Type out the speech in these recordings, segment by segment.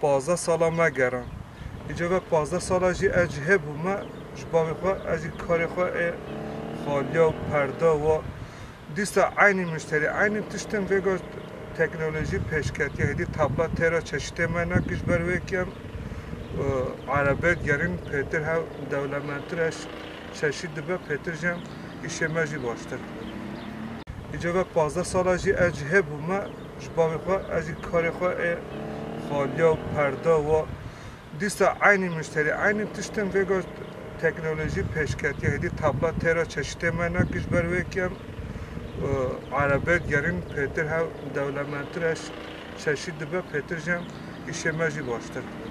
Pazdeh sala me geran. Îcar ve pazdeh sala jî ez ji hê bû me ji bavê xwe ez jî karê xwe ê xaliya û perda wa. Dîsa eynî muşterî, eynî tiştên vêga teknolojî pêşketiye. Hêdî tabla tê re çeşitê me ne kir ji ber wê kem erebê digerîn pêtir hev dewlementtir e çeşît dibe pêtir jî hem îşê me jî baştir dibe. Îcar ve pazdeh sala jî ez ji hê bû me Ji bavê xwe ez jî karê xwe ê xaliya û perda wa dîsa eynî muşterî eynî tiştên vêga teknolojî pêşketiye. Hêdî tabla têra çeşitê me ne kir ji ber wê ke em erebê digerîn pêtir hev dewlementtir e çeşît dibe pêtir jî em îşê me jî baştir dibe.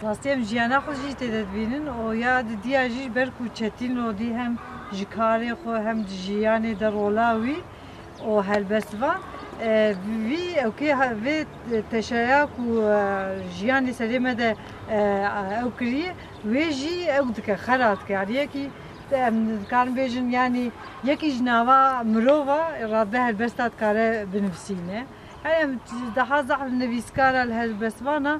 Rastî em jiyana xwe jî tê de dibînin û ya di diya jî ber ku çetîn rûdî hem ji karê xwe hem ji jiyanê de rola wî û helbest va, Vî ewkê vê teşeya ku jiyan li serê me de ew kiriye wê jî ew dike, xera dike. Yanî yekî em dikarin bêjin yanî yekî ji nava mirova radbe helbesta dikare binivisîne. Yanî em dihezahin nivîskara li helbestvana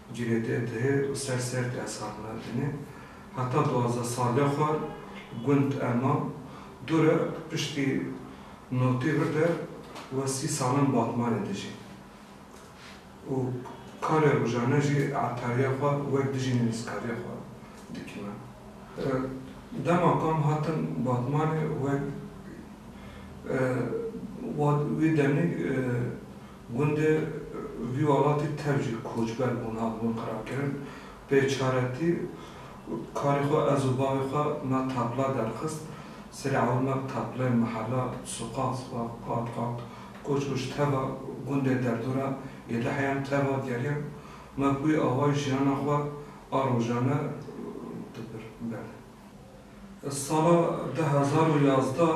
Cîrêdê dihê û ser serdê ez hatime dinê. Heta duwazdeh saliya xwe gund Elma Dûre piştî notî virde we sî salan Batmanê dijî û karê rojane jî etariya xwe wek dijî nivîskariya xwe dikime. Dema kam hatim Batmanê wek wê demî Gundê vî welatî tev jî koçber bûn hatibûn qirabkirin. Bêçaretî karê xwe ez û bavê xwe me tapla derxist. Serê ewil me bi tapleyên mihela, suqas ve qat qat koç bû. Ji teva gundê derdora yê li heyan teva geriyan. Me bi wî awayî jiyana xwe a rojane dibir berdin. Sala du hezar û yazdeh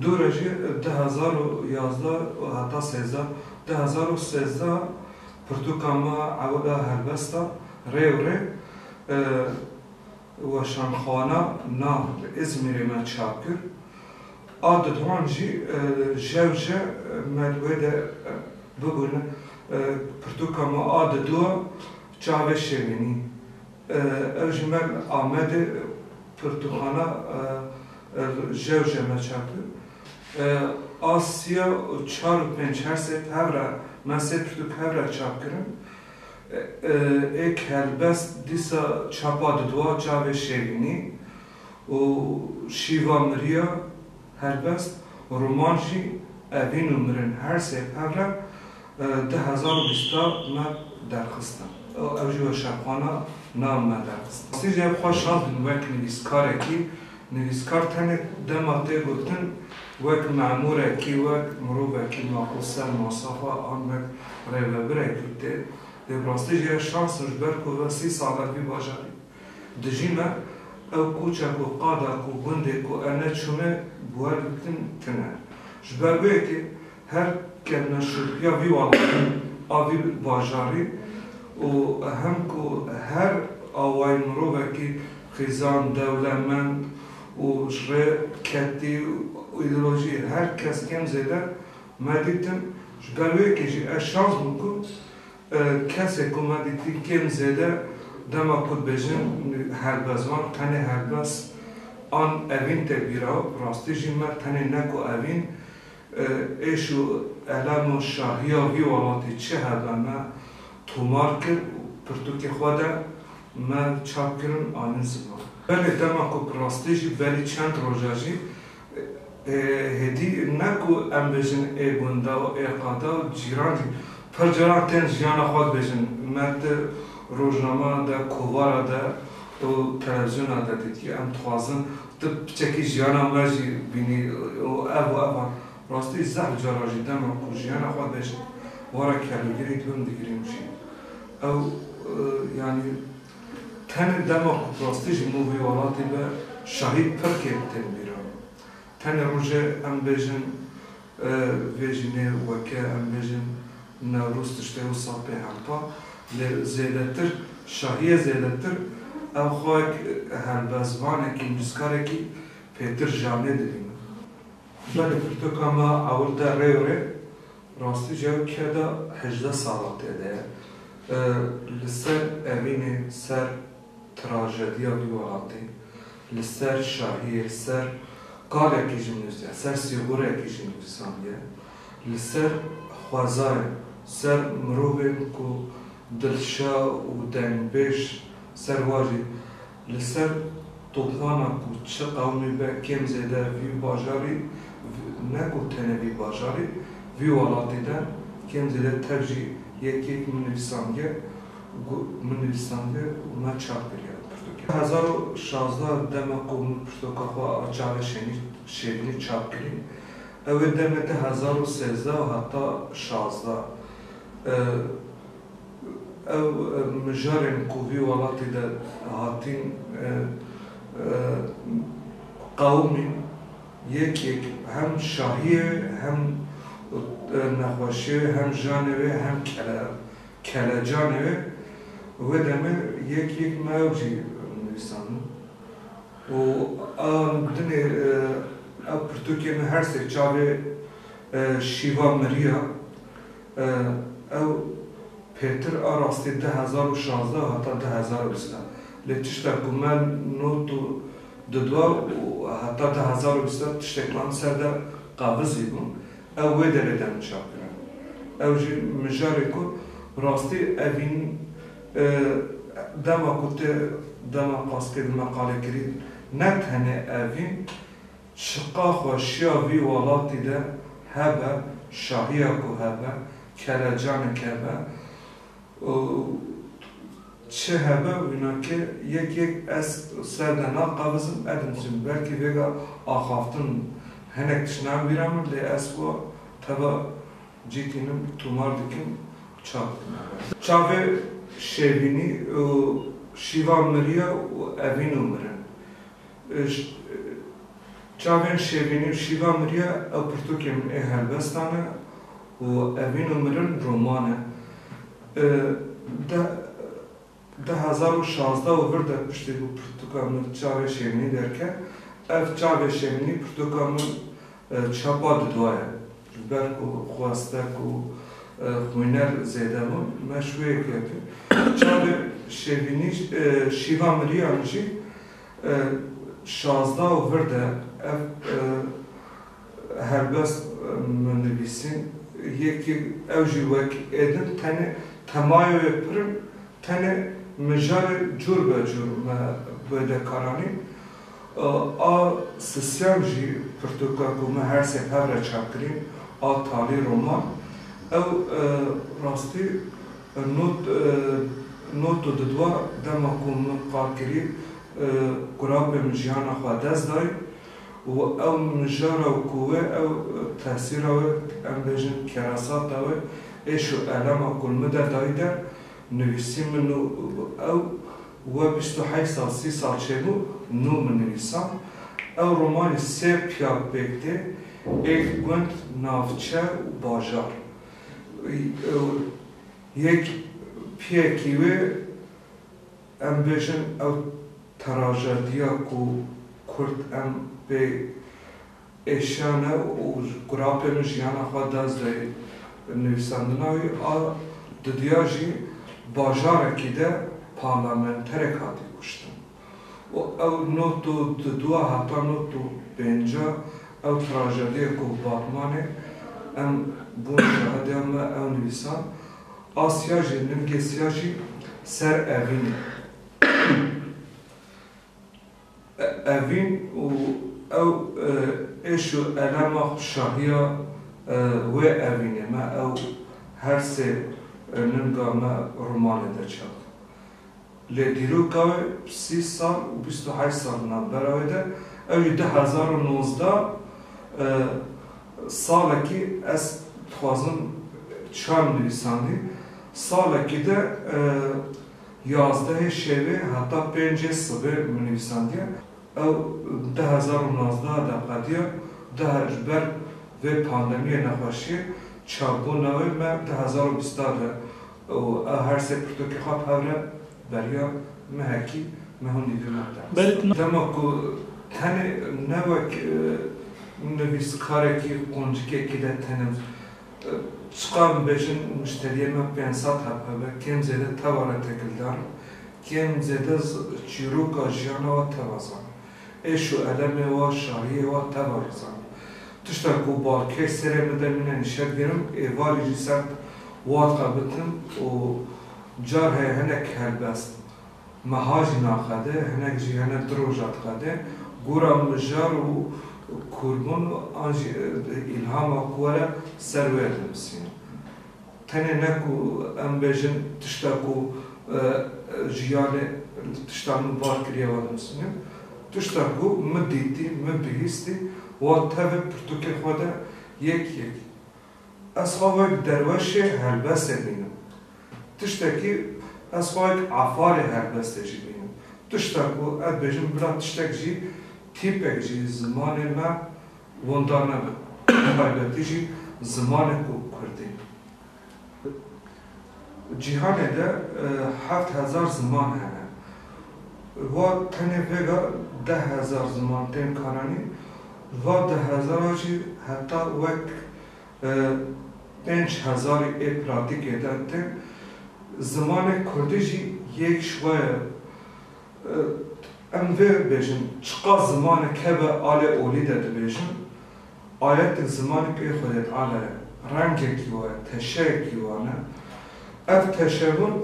Dû re jî du hezar û yazdeh û heta sêzdeh, du hezar û sêzdeh pirtûka me ewile helbest e, rê û rê weşanxwana na li Îzmîrê me çap kir. A didwan jî jewje me li wê de bibûne. Pirtûka me a diduwa çavê şêwînî Ew ji me li Amedê pirtûkxana Jewje me çapir. A siya û çar û pênc her sê tev re me sê pirtûk hev re çap kirin. Ê kelbest dîsa çapa didwa çavê Şêrînî û şîva miriya Helbest roman jî evîn û mirin her sê perle du hezar û bîst da me derxistin û ew jî weşanxwana nav me derxistin. Rastî jî ev xwe şandin wek nivîskarekî, nivîskar tenê dema tê gotin wek memûrekî, wek mirovekî maqûl ser masafa an wek rêvebirekî tê dê. Bi rastî jî ev şans in ji ber ku ve sî sal e vî bajarî. Dijî me, ew koça ku qada ku gundê ku em ne çûne guher dikin tune. Ji ber vê yekê her ke meşrûtiya vî welatî a vî bajarî û hem ku her awayî mirovekî xîzan, dewlemend û ji rê ketî û îdeolojî her kes kêm zêde me dîtin. Ji ber vê yekê jî ez şans bûm ku Kesê ku me dîtî kêm zêde dema ku dibêjin helbezvan tenê helbez an evîn tê bîra û bi rastî jî me tenê ne ku evîn, êş û elem û şahiya vî welatî çi hebe me tomar kir û bi pirtûkê xwe de me çap kirin anîn ziman. Belê dema ku bi rastî jî berî çend roja jî Hêdî ne ku em bêjin ê gunda û ê qada û cîran jî pir caran tên jiyana xwe dibêjin. Me di rojnama de, kovara de û televizyona de dîtî. Em dixwazin tu piçekî jiyana me jî bînî û ev û evan. Rastî zehf caran jî dema ku jiyana xwe dibêjin were kelûgirî dibim digirîm jî. Ew yanî Tenê dema ku rastî ji bo vê welatê be şahîd pir kêm tên bîran. Tenê rojê em bêjin vê jînê weke em bêjin Newroz tiştê wisa pê hempa lê zêdetir şahiyê zêdetir ew xwek helbezvanekî nûskarekî pêtir janê dibînin. Belê pirtoka me ewil te rê û rê Rastî jî ew keda hejdeh salan tê de ye. Li ser evînê ser trajediya dû welatî, li ser şahiyê, li ser qalekî jî nûsîye, ser sîxurekî jî nûsandiye, li ser xwezayê, ser mirovên ku dilşa û dengbêj ser wa jî. Li ser topbana ku çi qewimî be kêm zêde vî bajarî ne ku tenê vî bajarî, vî welatî de kêm zêde tev jî yek yek min nivîsandiye û min nivîsandiye û me çap kiriye li pirtûkê. Hezar û şazdeh dema ku min pirtûka xwe a Çavê Şênî Şêrînî çap kirî, ew ê demê te hezar û sêzdeh û heta şazdeh. Ew mijarên ku vî welatî de hatîn qewimîn yek yek hem şahiyê wê hem nexweşiyê wê hem janê wê hem kelecanê wê wê demê yek yek me ew jî nivîsandin û dinê ew pirtûkê me her sê çavê şîva miriya. Ew pêtir a rastî du hezar û şazdeh û heta du hezar û bîst e. Lê tişta ku me not û didwa û heta du hezar û bîst e tiştê ku em ser de qavizî bûn ew wê derê de min çap kiriye. Ew jî mijarê ku rastî evîn dema ku tu dema paskê di meqalê kirî ne tenê evîn, Çiqa xweşiya vî welatî de hebe, şahiya ku hebe, kelecanik hebe û çi hebe wîna ke yek yek ez ser de naqabizim edim jin. Belkî vêga axaftin hinek tiştan bîra min lê ez xwe teve cî tînim, tûmar dikim û çav dikim hebe. Çavê şêvînî û şîvan miriya û evîn û mirin. Çavên Şevînî û Şîva Mirya ew pirtûkên min ê helbestan e û Evîn û Mirin roman e. Di hezar û şazdeh û vir de piştî ku pirtûka min Çavên Şevînî derket, ev Çavên Şevînî pirtûka min Çapa di duwa ye. Ji ber ku xweste ku xwîner zêde bûn, me ji wê yek girtin. Çavê Şevînî Şîva Mirîyan jî şazda û vir de ev helbest min nivîsîn. Yekî ew jî wek êdin tenê temayoyê pir in, tenê mijarê cûr be cûr me wêde karanîn. A sisyan jî pirtûka ku me her sê hev re çap kirîn a talî roman ew rastî not not û didwa dema ku min qal kirî kurabê min jiyana xwe ya dest dayî û ew mijara û ku wê ew tesîra wê em bêjin kerasata wê êş û elema ku li min der dayî der nivîsî min û ew We bîst û heyt sal sî sal çêbû nû min nivîsa. Ew romanê sê piyak pêk tê, êk gund, navçe û bajar. Yek piyekî wê em bêjin ew terajediya ku kurd em pê Êşane û quratên jiyana xwe dest dayê nivîsandina wî a didiya jî bajarekî de parlamenterek hatî kuştin û ew not û diduwa heta not û pênca ew trajediyê ku Batmanê em bûn şahidiya me ew nivîsan a siya jî nivgê siya jî ser evînê. Evîn û ew êş û elema xwe şahiya wê evînê me ew her sê ninga me romanê de çap dibin. Lê dîroka wê sî sal û bîst û heşt sal di navbera wê de ew jî du hezar û nozdeh salekî ez dixwazim çarm nivîsandî salekî de Yazdehê şevê heta pêncê sibê min nivîsandiye. Ew du hezar û nozdeh de qediya. Daha ji ber vê pandemiyê nexweşiyê çapbûna wê me du hezar û bîst de û ew her sê pirtûkê xwe bi hev re beriya mehekî me hûn dî dûna derhesan. Dema ku tenê ne wek nivîskarekî quncikekî de tenim Çiqas bibêjin muşteriyên me pênc sed heb hebe kêm zêde teva re têkildar in, kêm zêde çîroka jiyana we teva zan, êş û elemê we, şahiyê we teva jî zan. Tişta ku balkêş serê bide mîne nîşet gerin, êvarî jî sert wad xebitin û car heye hinek helbest. Meha jî naqede, hinek jî hene du roja diqede. Gora mijar û kurbûn an jî îlhama ku were ser wê dinivîsîne. Tenê ne ku em bêjin tişta ku jiyanê tişta min bar kiriye wan dinivîsîne. Tişta ku min dîtî, min bihîstî wan tevê pirtûkê xwe de yek yek. Ez xwe wek derweşê helbestê bînim. Tiştekî ez xwe wek afarê helbestê jî bînim. Tişta ku ez bêjim bila tiştek jî, tîpek jî zimanê me wenda nebe, bi taybetî jî zimanê ku kurdî. Di cîhanê de heft hezar ziman hene. Va tenê vêga deh hezar ziman tên karanîn. Di va deh hezara jî heta wek. Di pênc hezarî ê pratîkê de tim zimanê kurdî jî yek ji we ye. Em vê bêjin çiqas zimanek hebe alê olî de dibêjin ayetên zimanê pê Xwedê Teala ye, rengekî wa ye, teşeyekî wan e. Ev teşebûn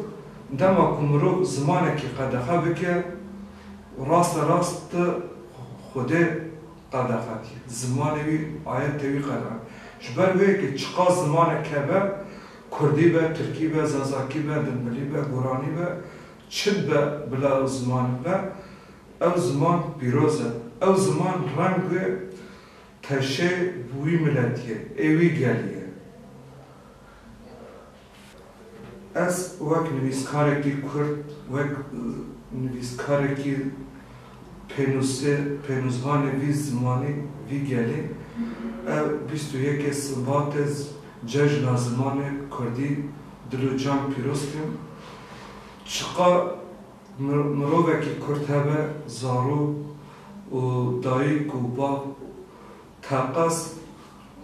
dema ku mirov zimanekî qedexe bike û raste rast di Xwedê Qedexetî, zimanê wî aye tevî qedexetî. Ji ber wê ke çiqas zimanek hebe, kurdî be, tirkî be, zazakî be, dimbilî be, guranî be, çi be bila ew zimanek be, ew ziman pîroz e. Ew ziman reng wê teşê wî miletî ye, ê wî gelî ye. Ez wek nivîskarekî kurd, wek nivîskarekî pênûsê, pênûsvanê vî zimanê, vî gelê, ev bîst û yekê Sibatê Cejna Zimanê Kurdî dil û can pîroz kim. Çiqar mirovekî kurd hebe zarok û dayik û bav Teqez,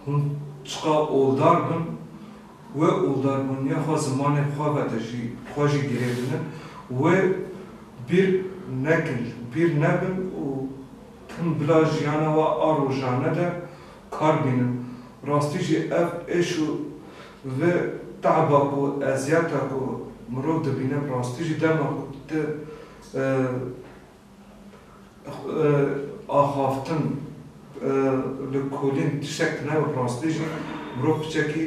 Hûn çiqa oldar bin, wê oldaribûniya xwe zimanê xwe ve de jî xwe jî girê binin, wê bîr nekin, bîr nebin û tim bila jiyana we a rojane de kar bînin. Rastî jî ev êş û vê te'ba ku, eziyeta ku mirov dibîne bi rastî jî dema ku tu Axaftin li kulîn tiştek tune bi rastî jî mirov piçekî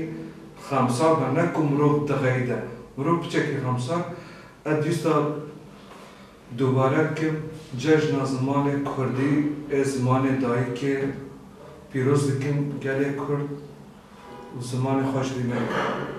xemsar be ne ku mirov dixeyde. Mirov piçekî xemsar ez dîwsta dubare bikim cejna zimanê kurdî ê zimanê dayîkê pîroz dikim gelê kurd zimanê xwe ji bî neke.